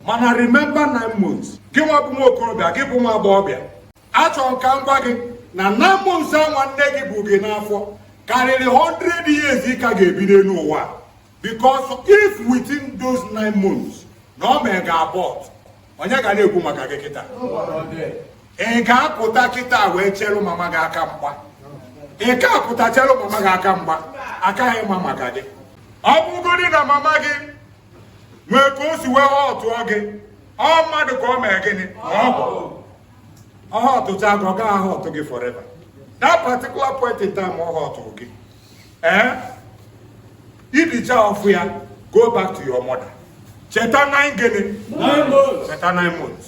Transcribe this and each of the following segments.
mana remember nine months gị nwa bụ nwa okorobịa gị bụ nwa agbọghọbịa achọrọ m ka m gwa gị na nine months anwa nne gị bu gị n'afọ karịrị 100 years ị ka ga-ebi n'elu ụwa because if within those nine months na o mee gị abort onye ga na-ekwu maka gị kịta ị ga-apụta kịta wee chere mama gị aka mgba ị ga-apụta chere mama gị aka mgba a kaghị ama maka gị ọ bụgodị na mama gị nwee ka o si wee hurtụọ gị ọ mmadụ ka o mee gịnị ọ bụ ọ hurtụchaa gị ọ gaghị ahurtụ gị forever that particular point in time ọ hurtụrụ gị ee i dichaa ọfụ ya go back to your mother cheta nine gịnị cheta nine months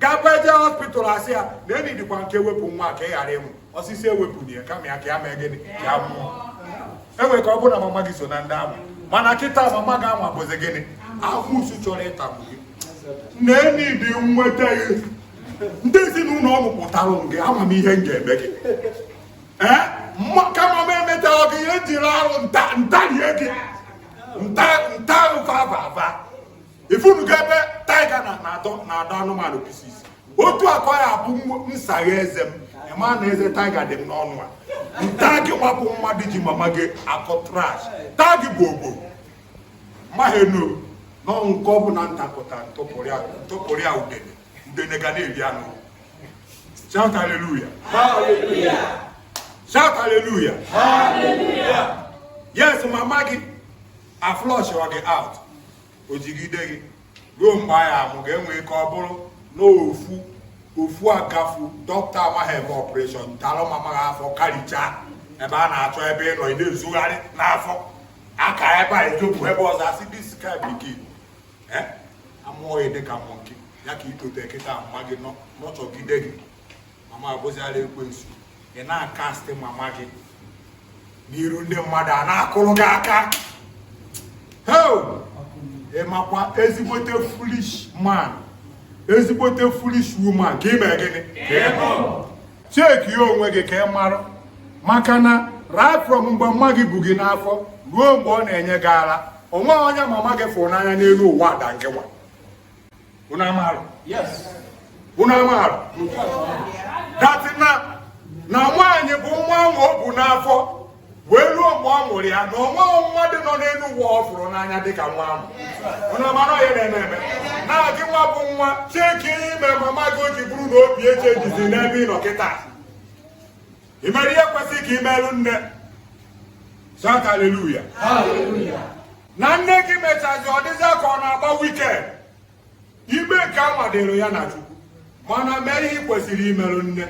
gakwa eje hospital a sị ya na e needịkwa nke ewepụ nwa ka ị ghara ịnwụ ọ sị sị ewepụna ya kama ya ka ya mee gịnị ka ya nwụọ e nwee ike ọ bụrụ na mama gị so na ndị ahụ mana kịta mama gị anwa bụzi gịnị amusu chọrọ ịtagbu gị na enyi dị nweta gị ndị ezinụlọ ọ mụpụtara gị ama m ihe m ga-eme gị ee kama m emetaghị gị ihe jiri arụ m ta m tarie gị m ta m ta ụfa ava ava ị fụnugo ebe tiger na na-adọ na-adọ anụmanụ pieces otu a ka ọ ya-abụ m saghee eze m ị ma na eze tiger dị m n'ọnụ a m taa gị nwa bụ mmadụ ji mama gị akọ trash taa gị bụ ogbo mahenu n'ọnwụ nke ọ bụla m takụta m tụpụrụ ya udene udene ga na-eri anụ shout hallelujah shout hallelujah yes mama gị aflush gị out o jigide gị ruo mgbe a ya-amụ gị e nwee ike ọ bụrụ na ofu ofu agafu dọkịta amaghị eme operation dara mama gị afọ karịchaa ebe a na-achọ ebe ị nọ ị na-ezogharị n'afọ a kaa ebe a i zopụ ebe ọzọ a sị this kind pikin eh? a mụọ ya dịka monkey ya ka i tote kịta mama gị nurturegide gị mama abụziala ekwensu ị na-acastị mama gị n'iru ndị mmadụ a na-akụrụ gị aka ị makwa ezigbote foolish man ezigbote foolish woman ka i mee gịnị checkia onwe gị ka ị mara maka na right from mgbe mama gị bu gị n'afọ ruo mgbe ọ na-enye gị ara onweghị onye mama gị fụrụ n'anya n'elu ụwa other unu amarọ unu amarọ that na na nwaanyị bu nwa ahụ o bu n'afọ wee ruo mgbe ọ mụrụ ya na onweghị nwa dịnụ n'elu ụwa ọ fụrụ n'anya dịka nwa ahụ unu amara onye na-eme eme na gị nwa bụ nwa checkie ihe i mere mama gị o ji bụrụ na obi echangeizi n'ebe ị nọ kịta i mere ihe kwesịrị ka i meere nne Shout hallelujah. Hallelujah. na nne gị mechazi ọ dịzị ka ọ na-agba wicked ime nke a nwadoro ya na chukwu mana mee ihe ị kwesịrị imerụ nne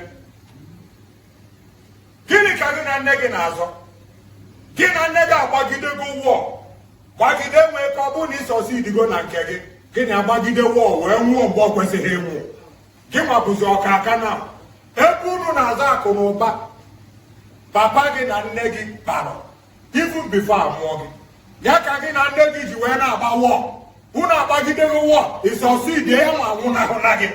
gịnị ka gị na nne gị na-azọ gị na nne gị agbagidego war gbagide nwee ka ọ bụrụ na ị succeedigo na nke gị gị na agbagide war wee nwụọ mgbe ọ kwesịghị ịnwụ gị nwa bụzi ọkaka na ebe unu na-azọ akụ na ụba papa gị na nne gị kpara even before a mụọ gị ya ka gị na nne gị ji wee na-agba war unu agbagidego war ị succeed ya ma nwụnahụ na gị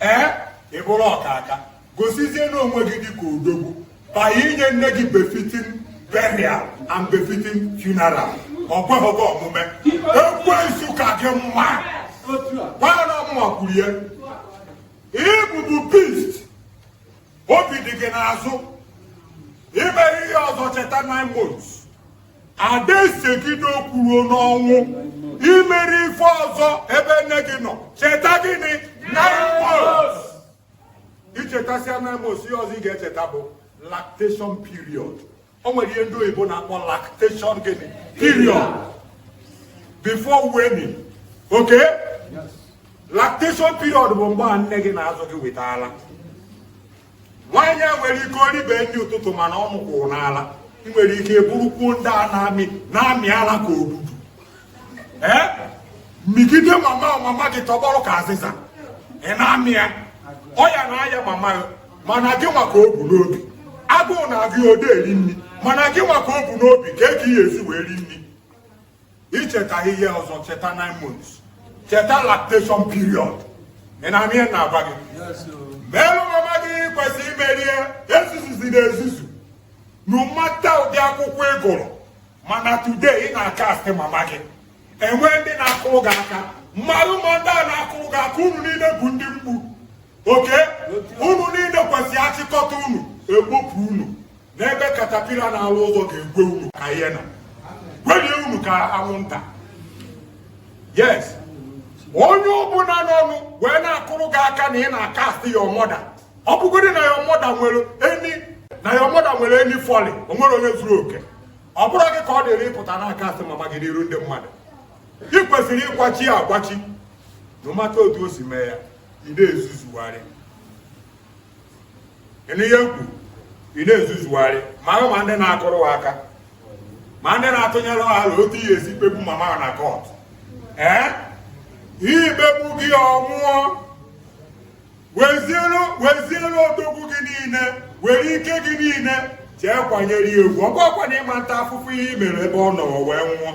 ee ị bụrụ ọkaka gosizie na onwe gị dịka odogwu by inye nne gị befitting burial and befitting funeral ọ kweghịgo omume ekwensu ka gị mma gwa na ọ mụwa kwuru ya ị bụ bụ beast obi dị gị n'azụ i mere ihe ọzọ cheta nine months a da esegide okwu ruo n'ọnwụ i mere ife ọzọ ebe nne gị nọ cheta gịnị nine months i chetasịa nine months ihe ọzọ ị ga-echeta bụ lactation period o nwere ihe ndị oyibo na-akpọ lactation gịnị period before weaning okay lactation period bụ mgbe a nne gị na-azụ gị with ala nwaanyị a nwere ike o ribe nri ụtụtụ mana ọnụ kwụrụ n'ala ị nwere ike bụrụkwuo ndị a na-amị na-amị ala ka odudu ee mịgide mama mama gị tọgbọrọ ka azịza ị na-amị ya ọya na-aya mama gị mana gị nwa ka o bu n'obi agụụ na-agụ ya o de eri nri mana gị nwa ka o bu n'obi ka eke ị ya-esi wee ri nri i cheta ihe ọzọ cheta 9 months cheta lactation period ị na-anụ ihe m na-agwa gị merụ mama gị ihe ị kwesịrị imerụ ya ezuzuzina ezuzu no matter ụdị akwụkwọ ị gụrụ mana today ị na-acast mama gị e nwee ndị na-akụrụ gị aka mmadụ ma ndị a na-akụrụ gị aka unu niile bụ ndị mgbu okay unu niile kwesịrị a chịkọta unu e kpopụ unu n'ebe katapila na-alụ ụzọ ga-egwe unu ka ihe na gwelie unu ka anwụnta yes onye ọbụla nọnụ wee na-akụrụ gị aka na ị na-acast your mother ọ bụgodị na your mother nwere any fault o nwere onye zuru oke ọ bụrọ gị ka ọ dịrị ịpụta na-acast mama gị n'iru ndị mmadụ ị kwesịrị ịkwachi ya akwachi no matter otu o si mee ya ị na-ezuzugharị ị nụ ihe m kwuru ị na-ezuzugharị ma ha ma ndị na-akụrụ ha aka ma ndị na-atụnyere ha alo otu a ya-esi kpegbu mama ha na court ee ihe ikpegbu gị ọ nwụọ weziere odogwu gị niile were ike gị niile jee kwanyere ya ugwu ọ bụkwa na ị ma ata afụfụ ihe i mere ebe ọ nọ wee nwụọ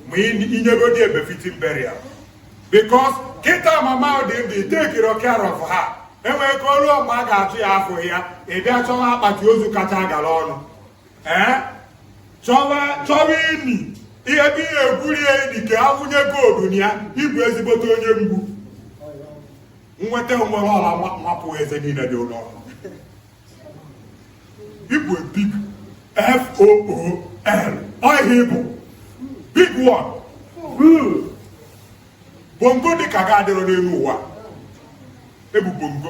ma i nyegodi ya befitting burial because kịta mama dị ndụ i tekirọ care of ha enwee ka o lue mgbe a ga-atụ ya afọ ya ị bịa chọwa akpati ozu kacha gara ọnụ ee chọwa chọwa ini ihe bụ ihe e gwurie ini ka a wụnye gold na ya ị bụ ezigbote onye mgbu nweta nwere ọla mapụ eze niile dị n'ọnụ ị bụ big fool oh yeah ị bụ big one bongo dị ka gị adịrọ n'elu ụwa ị bụ bongo